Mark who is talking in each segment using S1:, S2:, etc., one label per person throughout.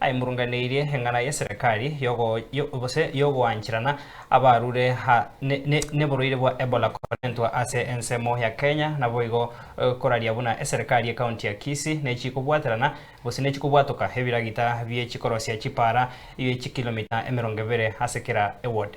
S1: Aimurunganeirie eng'ana y'eserekari gose y'ogoancherana abarure neborwaire bwa Ebola korentwa ase ensemo ya Kenya naboigo koraria buna eserekari y'ekaunti ya Kisii nechikobwaterana gose nechikobwatoka ebiragita biechikorosia chipaara bie chikilomita emerongo ebere ase kera eward.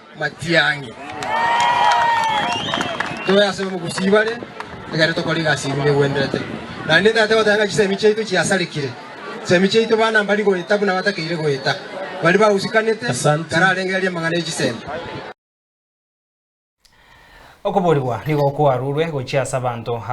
S2: Matiang'i. Tobe ase omogusii bare, egere tokore egasi eria egwenderete. Naende Tata goteba ng'a chisemi chiaito chiasarekire. Chisemi chiaito bana mbari goeta buna batakeire goeta. Baria bagusikanete, Asante. kararengereria amang'ana e chisemi.
S1: Okoboorigwa nigo kwarurwe gochia ase abanto aba.